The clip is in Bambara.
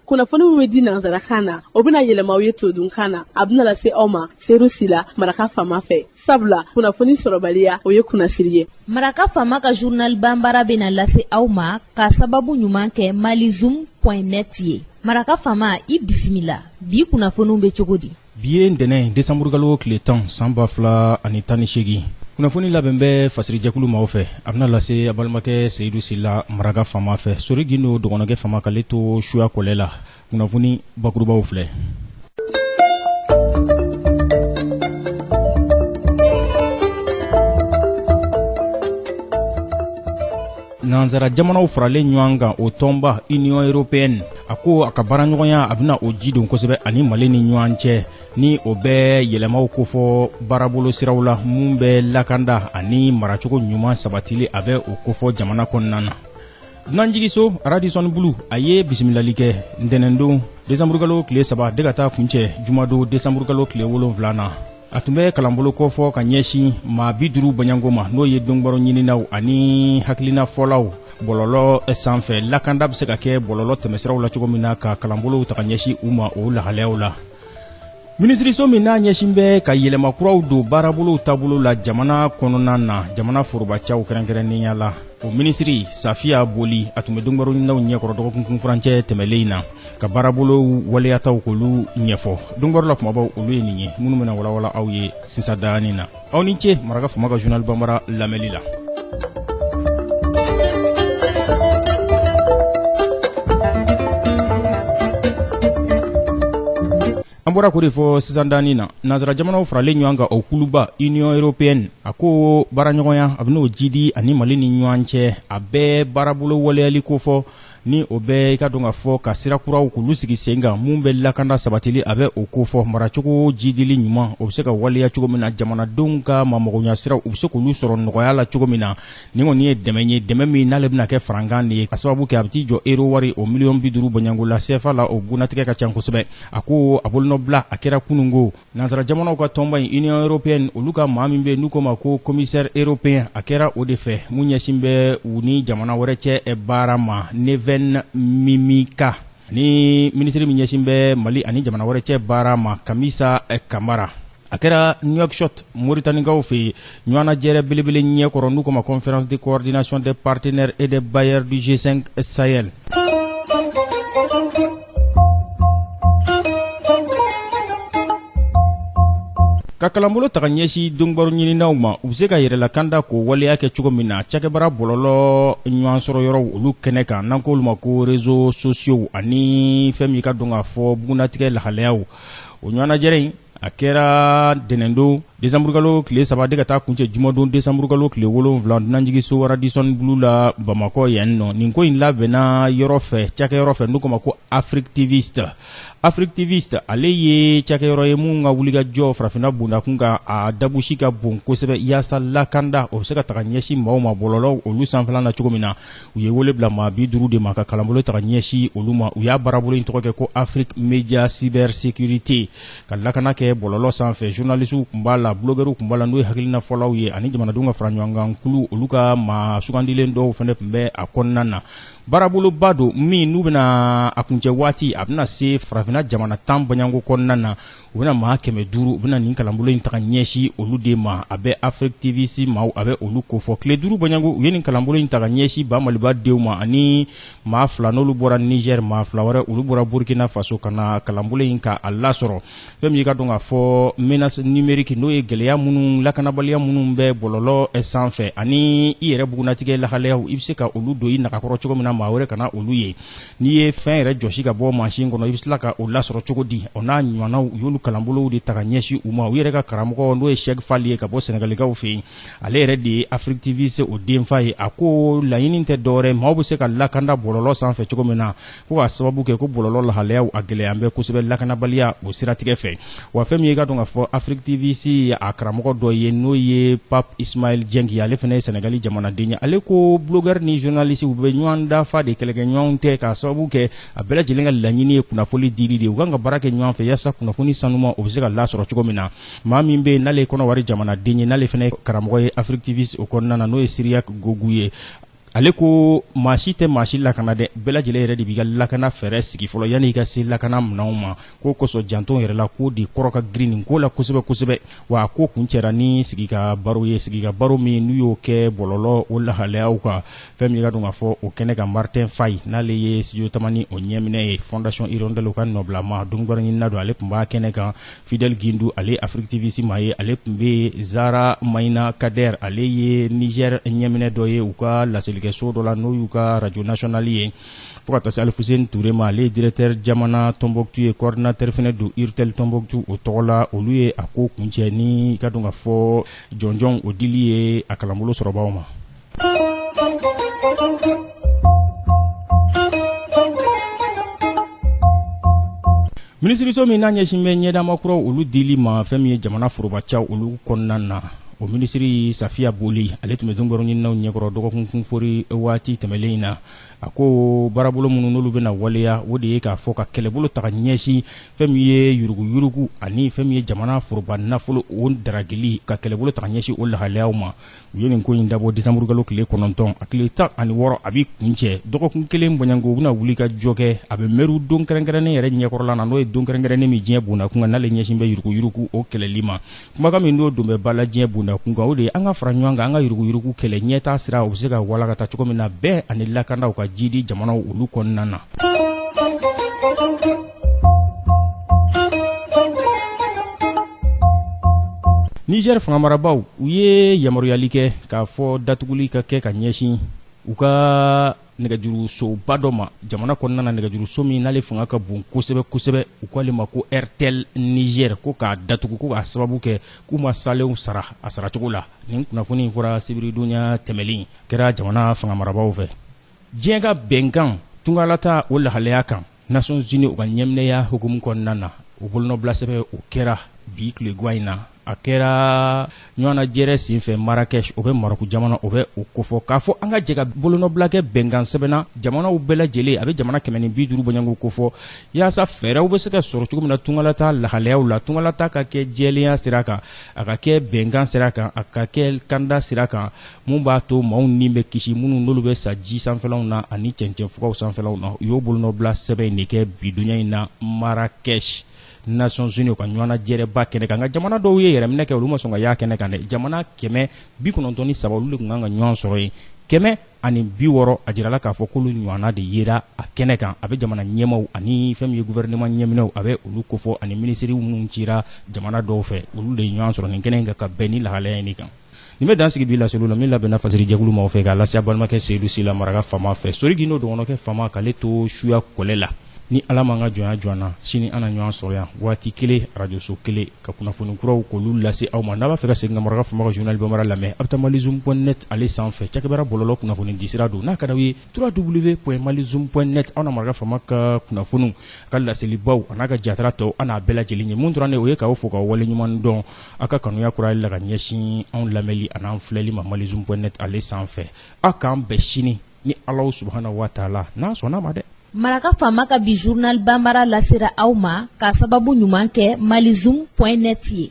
kunnafoni min bɛ di nansarakan na o bɛna yɛlɛma aw ye todunkan na a bɛna lase aw ma seyidu sila maraka faama fɛ sabula kunnafoni sɔrɔbaliya o ye kunnasiri ye maraka faama ka journal banbara bɛna lase aw ma ka sababu ɲuman kɛ malizoom net ye maraka faama i bisimila bi kunnafoniw bɛ cogo di bi ye ntɛnɛn desanburukalo tile tan san ba fila ani tan ni seegin kunnafoni labɛn bɛ fasirijɛkulu maaw fɛ a bɛna lase a balimakɛ seyidu sila maraka faama fɛ sori gindo dɔgɔnɔkɛ faama k'ale to suya kɔlɛ la kunnafoni bakurubaw filɛ Nansara jamanaw faralen ɲɔgɔn kan o tɔnba union européenne a ko a ka baaraɲɔgɔnya a bɛna o ji don kosɛbɛ ani mali ni ɲɔgɔn cɛ ni o bɛ yɛlɛmaw kofɔ baarabolo siraw la minnu bɛ lakanda ani maracogo ɲuman sabatili a bɛ o kofɔ jamana kɔnɔna na dunanjiginso radisson blu a ye bisimilali kɛ ntɛnɛndon desanburukalo tile saba de ka taa kuncɛ jumadon desanburukalo tile wolonwula na a tun bɛ kalanbolo kofɔ ka ɲɛsin maa bi duuru bɔɲɔgɔnko ma n'o ye donkibaru ɲininaw ani hakilinafɔlaw bɔlɔlɔ sanfɛ lakanda bɛ se ka kɛ bɔlɔlɔ tɛmɛsiraw la cogo min na ka kalanbolow ta ka ɲɛsin u ma o lahalayaw la minisiriso min n'a ɲɛsin bɛ ka yɛlɛma kuraw don baarabolow taabolo la jamana kɔnɔna na jamana forobacaw kɛrɛnkɛrɛnnenya la o minisiri safiya boli a tun bɛ donkibaru ɲininaw ɲɛkɔrɔ dɔgɔkun kun furancɛ tɛmɛnlen in na ka baarabolo waleyataw k'olu ɲɛfɔ donkibaru la kumabaw olu ye nin ye minnu bɛna walawala aw ye sisan danni na aw ni ce maraka faama ka journal banbara lamɛnni la an bɔra k'o de fɔ sisan danni na nansara jamanaw faralen ɲɔgɔn kan o kuluba union européenne a ko baaraɲɔgɔnya a bɛn'o jidi ani mali ni ɲɔgɔn cɛ a bɛ baarabolo waleyali kofɔ ni o bɛ i k'a dɔn k'a fɔ ka sira kuraw k'olu sigi sen kan minnu bɛ lakanda sabatili a bɛ o kofɔ maracogo jidili ɲuman o bɛ se ka waleya cogo min na jamanadenw ka mamɔgɔɲasiraw u bɛ se k'olu sɔrɔ nɔgɔya la cogo min na nin kɔni ye dɛmɛ ye dɛmɛ min n'ale bɛna kɛ farankan de ye ka sababu kɛ a bɛ t'i jɔ euro wari o miliyɔn bi duuru bɔɲɔgɔnko la cfa la o bugunnatigɛ ka ca kosɛbɛ a ko a bolonɔbila a kɛra kunungo Nansara jamanaw ka tɔnba in Union européenne olu ka maa min bɛ yen n'u k'o ma ko commissaire européen a kɛra o de fɛ mun ɲɛsin bɛ u ni jamana wɛrɛ cɛ baara ma Neven Mimica ani minisiri min ɲɛsin bɛ Mali ani jamana wɛrɛ cɛ baara ma Kamisa Kamara a kɛra Nouakchott Moritanikaw fɛ yen ɲɔgɔnnajɛrɛ belebele ɲɛ kɔrɔ n'u k'o ma conférence de coordination des partenaires et des bailleurs du G5 Sahel ka kalanbolo ta ka ɲɛsi donkibaro ɲininaw ma u bɛ se ka yɛrɛlakanda k'o waleya kɛ cogo min na cakɛbara bɔlɔlɔ ɲɔgɔn sɔrɔ yɔrɔw olu kɛnɛ kan n'an k'olu ma ko réseaux sociaux ani fɛn min ka dɔn k'a fɔ bugunnatigɛ lahalayaw o ɲɔgɔnnajɛrɛ in a kɛra ntɛnɛndon desanburukalo tile saba de ka taa kuncɛ jumadon desanburukalo tile wolonwula dunanjigisoba Radisson Blu la bamakɔ yan nɔ nin ko in labɛnna yɔrɔ fɛ cakɛyɔrɔ fɛ n'u k'o ma ko AfricTivistes AfricTivistes ale ye cakɛyɔrɔ ye min ka wulikajɔ farafinna bondakun kan a dabusi ka bon kosɛbɛ yaasa lakanda o bɛ se ka ta ka ɲɛsin maaw ma bɔlɔlɔw olu sanfɛla na cogo min na u ye wele bila maa bi duuru de ma ka kalanbolo ta ka ɲɛsin olu ma u y'a baarabolo in tɔgɔ kɛ ko Afrique Média Cybersécurité ka lakana kɛ bɔlɔlɔ sanfɛ journalisiw tun b'a la bulogɛriw tun b'a la n'o ye hakilina fɔlaw ye ani jamanadenw ka faraɲɔgɔnkan kulu olu ka maa sugandilen dɔw fana tun bɛ a kɔnɔna na baaraboloba don min n'u bɛna a kuncɛ waati a bɛna se farafinna jamana tan bɔɲɔgɔnko kɔnɔna na u bɛna maa kɛmɛ duuru u bɛna nin kalanbolo in ta ka ɲɛsi olu de ma a bɛ AfricTivistes maaw a bɛ olu kofɔ tile duuru bɔɲɔgɔnko u ye nin kalanbolo in ta ka ɲɛsi ba maliba denw ma ani maa fila n'olu bɔra nizɛri maa fila wɛrɛ olu bɔra burukina faso ka na kalanbolo in ka a lasɔrɔ fɛn min ka dɔn k'a fɔ menace numérique n'o ye gɛlɛya minnu lakanabaliya minnu bɛ bɔlɔlɔ eh, sanfɛ ani i yɛrɛ bugunnatigɛ lahalayaw i bɛ se ka olu don i nagakɔrɔ cogo min na maa wɛrɛ kana olu ye n'i ye fɛn yɛrɛ jɔsi ka bɔ mansin kɔnɔ i bɛ tila ka o lasɔrɔ cogo di o n'a ɲɔgɔnnaw u y'olu kalanbolow de ta ka ɲɛsin u ma u yɛrɛ ka karamɔgɔ n'o ye Cheikh Fall ye ka bɔ Senegalikaw fɛ yen ale yɛrɛ de ye AfricTivistes o denfa ye a ko laɲini tɛ dɔwɛrɛ maaw bɛ se ka lakanda bɔlɔlɔ sanfɛ cogo min na ko k'a sababu kɛ ko bɔlɔlɔ lahalayaw a gɛlɛyalen bɛ kosɛbɛ lakanabaliya o siratigɛ fɛ wa fɛn min ye ka dɔn k'a fɔ AfricTivistes ye a karamɔgɔ dɔ ye n'o ye Pape Ismaïl Dieng ye ale fana ye sɛnɛgali jamanaden ye ale ko bulogɛri ni zɔnalisi u bɛ ɲɔgɔn dafa de kɛlɛkɛɲɔgɔnw tɛ k'a sababu kɛ a bɛɛ lajɛlen ka laɲini ye kunnafoli dili de ye u kan ka baara kɛ ɲɔgɔn fɛ yaasa kunnafoni sanuma o bɛ se ka lasɔrɔ cogo min na maa min bɛ yen n'ale ye kɔnɔwari jamanaden ye n'ale fana ye karamɔgɔ ye AfricTivistes o kɔnɔna na n'o ye Cyriac Gbogou ye ale ko maa si tɛ maa si lakana dɛ bɛɛ lajɛlen yɛrɛ de b'i ka lakana fɛɛrɛ sigi fɔlɔ yanni i ka se lakana minɛnw ma k'o kosɔn janto yɛrɛ la ko de kɔrɔ ka girin nin ko la kosɛbɛ kosɛbɛ wa a ko kuncɛra ni sigi ka baro ye sigi ka baro min n'u y'o kɛ bɔlɔlɔ o lahalayaw kan fɛn min ka dɔn k'a fɔ o kɛnɛ kan Martin Faye n'ale ye Studio Tamani o ɲɛminɛ ye Fondation Hirondelle ka nɔbilama donkibaro ɲinina don ale tun b'a kɛnɛ kan fidel gindu ale afriktivisi maa ye ale tun bɛ zara maina kader ale ye niger ɲɛminɛ dɔ ye u ka laselikɛso dɔ la n'o y'u ka radio national ye fo ka taa se alifuseni ture ma ale ye directɛr jamana tɔnbɔktu ye kɔɔrdinatɛr fɛnɛ don urtel tɔnbɔktu o tɔgɔ la olu ye a ko kuncɛ ni k'a dɔn k'a fɔ jɔnjɔn o dili ye a kalanbolo sɔrɔbaaw ma minisiriso min n'a ɲɛsin bɛ ɲɛdama kuraw olu dili ma fɛn min ye jamana forobacaw olu kɔnɔna na o minisiri safiya boli ale tun bɛ donkibaruɲininaw ɲɛkɔrɔ dɔgɔkun kunfori waati tɛmɛlen in na a ko baarabolo minnu n'olu bɛna waleya o de ye k'a fɔ ka kɛlɛbolo ta ka ɲɛsin fɛn min ye yuruguyurugu ani fɛn min ye jamana foroba nafolo o daragili ka kɛlɛbolo ta ka ɲɛsin o lahalayaw ma u ye nin ko in dabɔ desanburukalo tile kɔnɔntɔn a tile tan ani wɔɔrɔ a bɛ kuncɛ dɔgɔkun kelen bɔɲɔgɔnko u bɛna wulikajɔ kɛ a bɛ mɛriw don kɛrɛnkɛrɛnnen yɛrɛ ɲɛkɔrɔla na n'o ye don kɛrɛnkɛrɛnnen min diɲɛ bondakun kan n'ale ɲɛsin bɛ yuruguyurugu o kɛlɛli ma kumakan min n'o don bɛ ba la diɲɛ bondakun kan o de ye an ka fara ɲɔgɔn kan an ka yuruguyurugu kɛlɛ ɲɛtaa sira o bɛ se ka walakata cogo min na bɛn ani lakanaw ka jiidi jamanaw olu kɔnɔna na Niger fangamarabaaw u ye yamaruyali kɛ k'a fɔ datuguli ka kɛ ka ɲɛsin u ka nɛgɛjurusoba dɔ ma jamana kɔnɔna na nɛgɛjuruso min n'ale fanga ka bon kosɛbɛ kosɛbɛ u k'ale ma ko airtel niger ko k'a datugu ko k'a sababu kɛ k'u ma salenw sara a saracogo la nin kunnafoni in fɔra sibiridonya tɛmɛnen in kɛra jamana fangamarabaaw fɛ diɲɛ ka bɛnkan tungalata o lahalaya kan Nations Unies u ka ɲɛminɛya hukumu kɔnɔna na, o bolonɔbilasɛbɛn o kɛra bi tilegan in na, a kɛra ɲɔgɔnnajɛrɛ senfɛ Marrakech, o bɛ Maroc jamana, o bɛ o kofɔ, k'a fɔ an ka jɛ ka bolonɔbila kɛ bɛnkan sɛbɛn na jamanaw bɛɛ lajɛlen, a bɛ jamana kɛmɛ ni bi duuru bɔɲɔgɔnko kofɔ, yaasa fɛɛrɛw bɛ se ka sɔrɔ cogo min na tungalata lahalayaw la, tungalata ka kɛ jɛlenya sira kan, a ka kɛ bɛnkan sira kan, a ka kɛ kanda sira kan. min b'a to maaw ni bɛ kisi minnu n'olu bɛ sa ji sanfɛlaw na ani cɛncɛnfugaw sanfɛlaw na u y'o bolonɔbila sɛbɛn in de kɛ bidonya in na Marrakech Nations Unies ka ɲɔgɔnnajɛrɛba kɛnɛ kan nka jamana dɔw ye yɛrɛminɛ kɛ olu ma sɔn ka y'a kɛnɛ kan dɛ jamana kɛmɛ bi kɔnɔntɔn ni saba olu de tun kan ka ɲɔgɔn sɔrɔ yen kɛmɛ ani bi wɔɔrɔ a jirala k'a fɔ k'olu ɲɔgɔnna de yera a kɛnɛ kan a bɛ jamana ɲɛmaw ani fɛn min ye guvɛrɛnɛman ɲɛminɛw a bɛ olu kofɔ ani minisiriw minnu cira jamana dɔw fɛ olu de ye ɲɔgɔn sɔrɔ nin kɛnɛ in kan ka bɛn nin lahalaya in de kan nin bɛ dan sigi bi laseliw la min labɛnna fasiri jɛkulu maaw fɛ k'a lase balimakɛ seyidu sila maraka fama fɛ sori gindo dɔgɔnɔkɛ fama k'ale to suya kɔlɛ la ni ala m'an ka jɔnya jɔ an na sini an na ɲɔgɔn sɔrɔ yan waati kelen arajoso kelen ka kunnafoni kuraw k'olu lase aw ma n'a b'a fɛ ka segin ka maraka fama ka zurunali bamara lamɛn a bɛ taa malizoom pɔn nɛt ale sanfɛ cakɛbara bɔlɔlɔ kunnafonidisira don n'a ka d'aw ye www.malizoom pɔn nɛt aw na maraka fama ka kunnafoniw a ka laselibaw an'a ka jatara tɔw an n'a bɛɛ lajɛlen ye min tora an na o ye k'aw fo k'aw waleɲuman dɔn aw ka kanuya kura la ka ɲɛsin anw lamɛnli an'an filɛli ma malizoom pɔn nɛt ale sanfɛ aw k'an bɛn sini ni ala subhana wa taala n'a sɔnn'a ma dɛ maraka faama ka bi zurunali bamara lasera aw ma ka sababu ɲuman kɛ malizoom pɔn nɛt ye